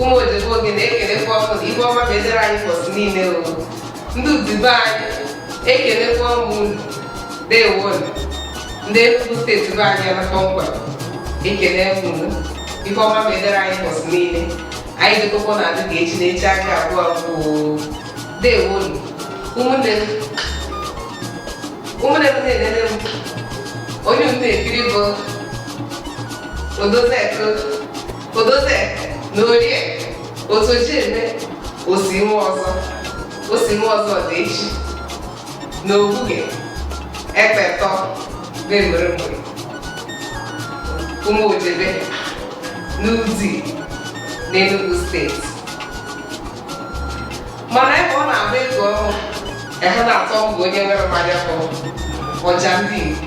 ụmụ odibo gị na-ekelekwa unu na ife ọma mezere anyị ụbọchị niile o ndị Udi be anyị ekelekwa m unu dewo nụ ndị Enugu steeti be anyị na kpọmkwem ekele unu ife ọma mezere anyị ụbọchị niile anyị dịkọkwa na adị ka echi na echi aka abụọ abụọ dewo nụ ụmụnne m ụmụnne m na-enene m onye unu na-ekiri bụ odozi eke odozie na orie otu o ji eme osi nwa ọzọ osi nwa ọzọ dị echi na obuge ekpetọ na-emere mgbe ụmụ Ojebe n'Udi n'Enugu steeti mana ebe ọ na-agba ego ọhụụ ehe na-atọ mbụ onye nwere mmanya bụ ọja ndị Igbo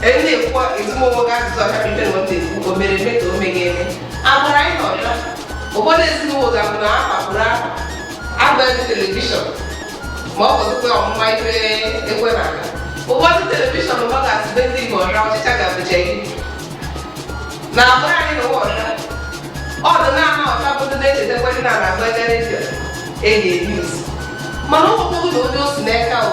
na-ekwu ezigbo onwe gị ajụjụ ọcha ife na otu ekwu o mere eme ka o meghị eme agbụrụ anyị na ọcha ụfọdụ ezinụlọ ga-abụ na afa pụrụ afa agbaghị telivishọn ma ọ bụzikwa ọmụma ife ekwe na aka ụfọdụ telivishọn ụba ga-asịbe ndị igbo ọcha ọchịcha ga-abụcha gị na agbụrụ anyị na ụwa ọcha ọdụ na-ana ọcha bụdụ na-echetakwa ndị na na-agba ebe redio eyi eyi mana ụmụkpọgụ na onye osi n'aka o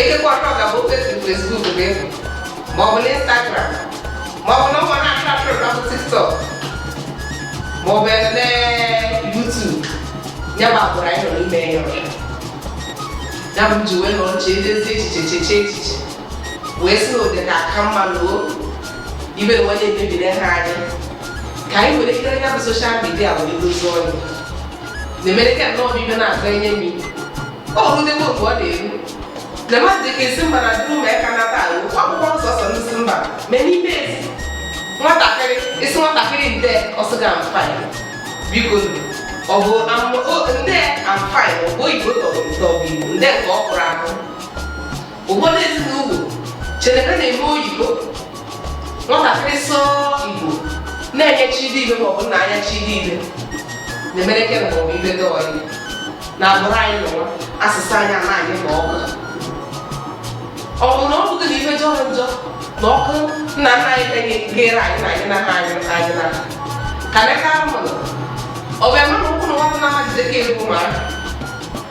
Ekekwa ọtọ ga bụ ofe Facebook bụ ịhụ ma ọ bụ na Instagram ma ọ bụ na ụmụ na-achọ achọ na bụ TikTok ma ọ bụ eme YouTube ya bụ agbụrụ anyị nọ n'ime ya ọcha ya bụ ji wee nọ nche edezi echiche cheche echiche wee sị na ụdị ga-aka mma na o ibe na onye mebiri ha anyị ka anyị were ikere ya bụ soshal midia wee dozie ọnụ na-emere ka nnọọ bụ ibe na-agụ enye mi ọ rụdewo otu ọ na-eru na mmadụ dịka ezi mba na duru ma aka nata ahụ akwụkwọ nsọsọ n'isi mba mee n'ime ezi nwatakịrị ị sị nwatakịrị nde ọ sị gị I'm fine biko ọ bụ nde I'm fine ọ bụ oyibo tọrọ ụtọ bụ igbo nde nke ọ kụrụ ahụ ụfọdụ ezinụlọ chere na na-eme oyibo nwatakịrị sụọ igbo na-enye chidi ife maọbụ nna anya chidi ife na-emere ke maọbụ ife dị ọyị na agbụrụ anyị nọwa asụsụ anyị anaghị ma ọkụ ọ bụ na ọ bụghị na ife jọrọ njọ na ọkụ nna nna anyị enye gere anyị na anyị na ha anyị na anyị na ha ka neka mụrụ ọ bụ eme na ụkwụ na nwata na-amaghịzi ka egwu mara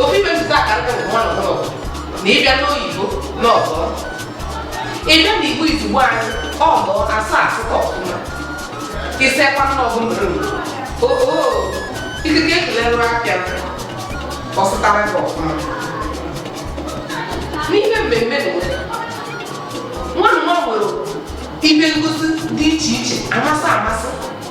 ofu ife nzụta akara nke nwa na ọbụla na ị bịa n'igbo na ọzọ ị bịa na igbo izugbe anyị ọzọ asụ asụta ọfụma isekwa na ọgụ mbụrụ oo ikike ekelere apịa ọsụtara gị ọfụma n'ime mmemme na nwa nwa nwere ife ngosi dị iche iche amasị amasị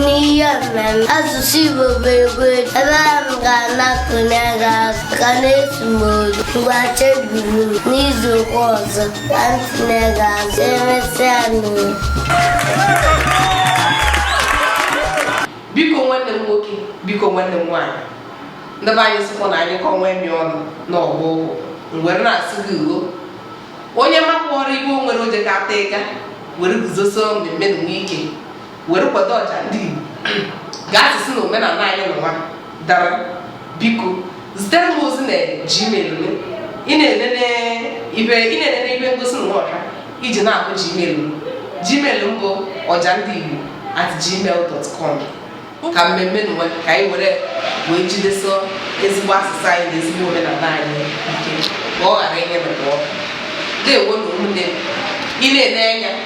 n'ihe mmemme asụsụ Igbo bụ egwu ebe a m ga-anapụnye gị azụ ka na-esu m olu ngwa cheburu n'izu ụka ọzọ ka m tinye gị azụ emesịa n'ụlọ biko nwanne m nwoke biko nwanne m nwaanyị ndị be anyị sịkwa na a nyụkọọ nwamịrị ọnụ na ọ gbọọ ụfụfụ m were na-asị gị ugo onye makpọrọ iwe o nwere oje ka ata ịga were guzosie mmemme nunwa ike were kwado ọja ndị Igbo ka asụsụ na omenala anyị nunwa dara biko zitere m ozi na gmail m ị na-enene ibe ị na-enene ibe ngosi nunwa ọha iji na-afụ gmail m gmail m bụ ọja ndị Igbo at gmail dot com ka mmemme nunwa ka anyị were wee jidesie ezigbo asụsụ anyị na ezigbo omenala anyị ike ka ọ ghara inye na pụọ na-ewo na ụmụnne m ị na-ene anya